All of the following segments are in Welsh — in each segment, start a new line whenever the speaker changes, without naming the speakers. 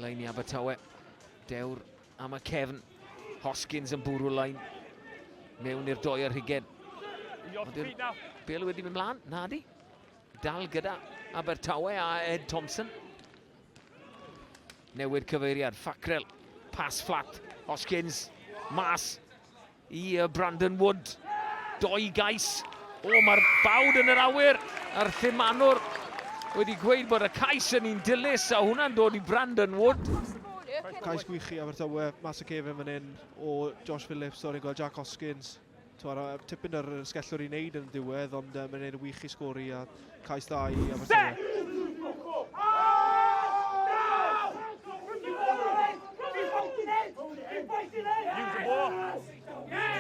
Lein i Abertawe. Dewr am y cefn. Hoskins yn bwrw lein. Mewn i'r doi ar hugen. Bel wedi mynd mlaen, na di. Dal gyda Abertawe a Ed Thompson. Newid cyfeiriad, Fackrell, pas fflat, Hoskins, mas. I Brandon Wood, doi gais. O, mae'r bawd yn yr awyr a'r thimanwr wedi gweud bod y cais yn un dilys a hwnna'n dod i Brandon Wood. Cais gwych i Abertawe, mas y cefn fan hyn o Josh Phillips, o'r gweld Jack Hoskins. Tipyn yr sgellwr i wneud yn ddiwedd, ond uh, mae'n gwneud y wych i sgori a Cais dda i Abertawe.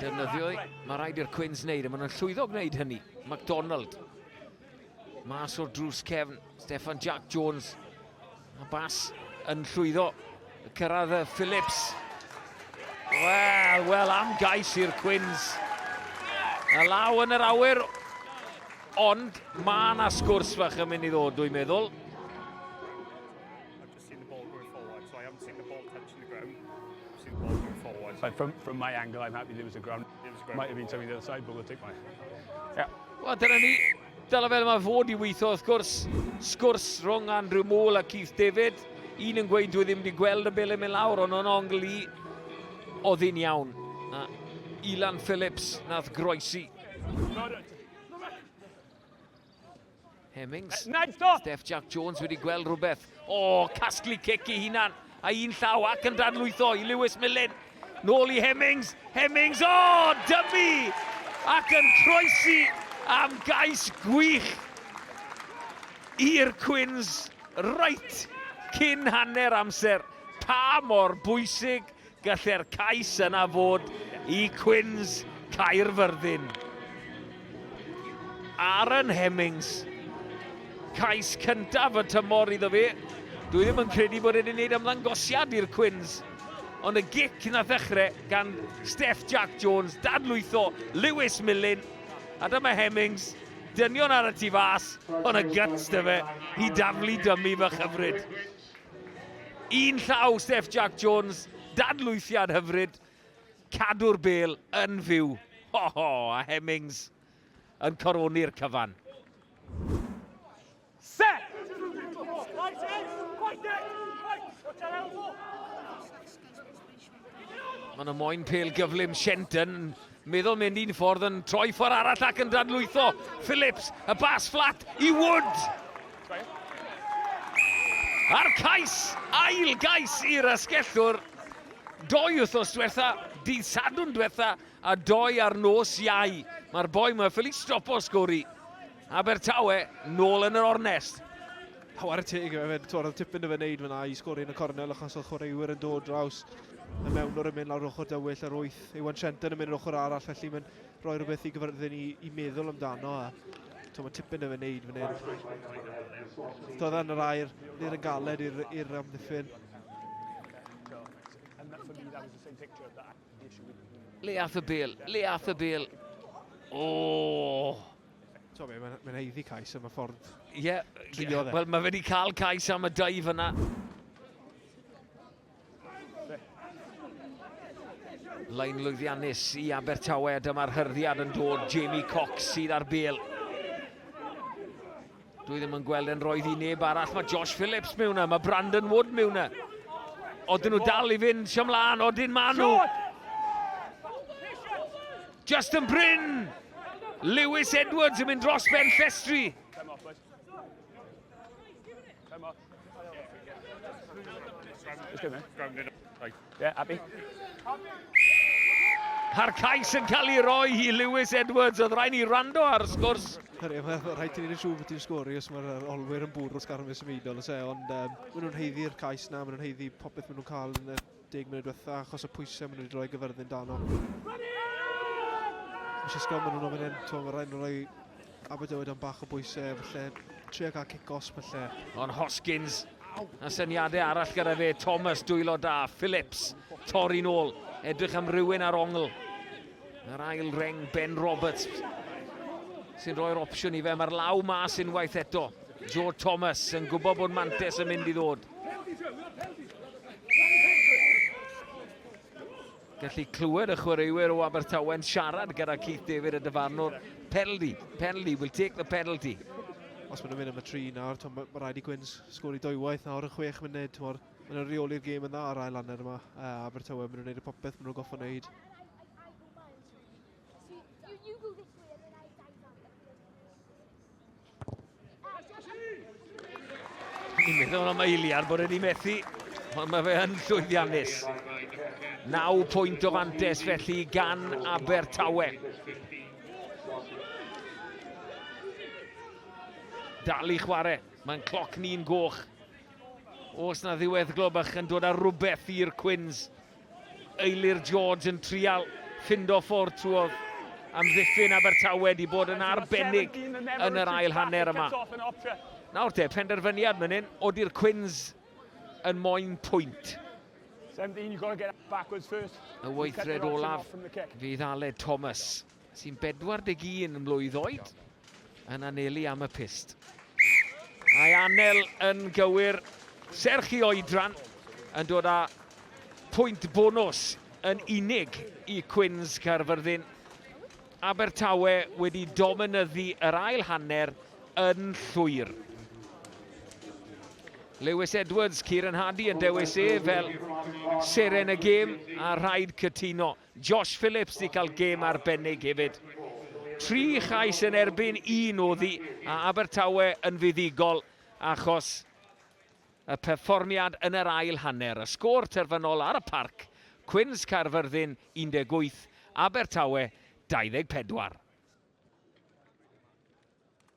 Defnyddio, mae rhaid i'r Cwins wneud, a maen nhw'n llwyddo gwneud hynny. MacDonald. Mas o'r drws cefn, Stefan Jack Jones A bas yn llwyddo cyrraedd y Phillips. Wel, wel am gais i'r Cwins. A law yn yr awyr, ond mae yna sgwrs fach yn mynd i ddod, dwi'n meddwl. Like from, from my angle, I'm happy there was a ground. There was a ground. Might have been something the other side, but we'll take my... Yeah. Wel, dyna ni. Dyna fel mae fod i weithio wrth gwrs. Sgwrs rhwng Andrew Mool a Keith David. Un yn gweud dwi ddim wedi gweld y bel yn mynd lawr, ond o'n ongl i oedd hi'n iawn. A Ilan Phillips nath groesi. Hemmings. Steph Jack Jones wedi gweld rhywbeth. O, casglu cic i hunan. Â un llaw ac yn dadlwytho i Lewis Millen. Nôl i Hemmings, Hemmings, o! Dymu! Ac yn croesi am gais gwych i'r Cwins reit cyn hanner amser. Pa mor bwysig gallai'r cais yna fod i Cwins Caerfyrddin? Aaron Hemmings. Cais cyntaf y tymor iddo fi. Dwi ddim yn credu bod wedi gwneud ymddangosiad i'r Cwins. Ond y gic na ddechrau gan Steff Jack Jones, dadlwytho Lewis Millen. A dyma Hemmings, dynion ar y tu fas, ond y gyts dy fe i daflu dymu fy chyfryd. Un llaw Steff Jack Jones, dadlwythiad hyfryd. Cadw'r bel yn fyw. Ho ho, a Hemmings yn coroni'r cyfan. Set! Mae yna moyn pel gyflym Shenton yn meddwl mynd un ffordd yn troi ffordd arall ac yn dadlwytho Phillips, y bas fflat i Wood. A'r cais, ail gais i'r asgellwr. Doi wythnos diwetha, dydd Sadwrn diwetha, a doi ar nos Iau. Mae'r boi yma ffili stopo sgori. Abertawe, nôl yn yr ornest. Hawar y teg yma fe, twr oedd tipyn o fe wneud fyna i sgori yn y cornel achos oedd chwaraewyr yn dod draws y mewn o'r ymyn lawr ochr dywyll ar wyth. Iwan Trenton yn mynd yr ochr arall, felly mae'n rhoi rhywbeth i gyfyrddin i, i meddwl amdano. A, to, mae tipyn o fe wneud fan hyn. Doedd yn yr air, nid yn galed i'r amddiffyn. Le ath y bel, le ath y bel. Oh! So, mae'n ma, ma heiddi cais am y ffordd Ie, yeah, yeah. E. wel mae wedi cael cais am y daif yna. Lain lwyddiannus i Abertawe, dyma'r hyrddiad yn dod, Jamie Cox sydd ar bel. Dwi ddim yn gweld yn roedd i neb arall. Mae Josh Phillips mewn yna, mae Brandon Wood mewn yna. Oedden nhw dal i fynd sy'n mlaen, oedden maen nhw. Justin Bryn! Lewis Edwards yn mynd dros Ben Llestri. Come off, Yeah, happy. A'r cais yn cael ei roi i Lewis Edwards, oedd rhaid ni rando ar y sgwrs. Rhaid i ni'n siŵr bod ti'n sgori os mae'r olwyr yn bwrw sgarfus ymwneud o'n se, ond um, maen nhw'n heiddi'r cais na, maen nhw'n heiddi popeth maen nhw'n cael yn y deg munud diwetha achos y pwysau maen nhw wedi rhoi gyfyrddin dano. Eisiau sgol maen nhw'n ofyn hyn, to, mae rhaid nhw rhoi Aberdywyd am bach o bwysau, felly trio cael cic-os felly. Ond Hoskins, a syniadau arall gyda fe, Thomas, dwylo da, Phillips, torri'n ôl, edrych am rywun ar ongl. Yr ail reng, Ben Roberts, sy'n rhoi'r opsiwn i fe, mae'r law mas unwaith eto. Joe Thomas yn gwybod bod Mantes yn mynd i ddod. Gallu clywed y chwaraewyr o Abertawe'n siarad gyda Keith David y dyfarnwr. Penalty, penalty, we'll take the penalty. Os maen nhw'n mynd am y tri nawr, mae ma rhaid i Gwyns sgori dwywaith nawr yn chwech munud. Maen nhw'n reoli'r gêm yn dda ar ail anner yma. Uh, Abertawe, maen nhw'n gwneud y popeth maen nhw'n goffa wneud. Ni'n meddwl am eiliad bod wedi methu, ond mae fe yn llwyddiannus. 9 pwynt o fantes felly gan Abertawe. Dal i chwarae, mae'n cloc ni'n goch. Os na ddiwedd globach yn dod ar rhywbeth i'r Cwins, Eilir George yn trial ffindo ffordd trwodd amddiffyn Abertawe 'di bod yn arbennig yn yr ail hanner yma. Nawr te, penderfyniad man hyn, odi'r Cwins yn moyn pwynt? Y weithred olaf fydd Aled Thomas. sy'n 41 mlwydd oed, yn anelu am y pist. Mae Anel yn gywir, serch i oedran, yn dod â pwynt bonus yn unig i Cwins Caerfyrddin. Abertawe wedi dominyddu yr ail hanner yn llwyr. Lewis Edwards, Kieran Hardy yn dewis e fel seren y gêm a rhaid cytuno. Josh Phillips 'di cael gêm arbennig hefyd. Tri chais yn erbyn un oddi a Abertawe yn fuddugol achos y perfformiad yn yr ail hanner. Y sgôr terfynol ar y parc, Cwins Caerfyrddin 18, Abertawe 24.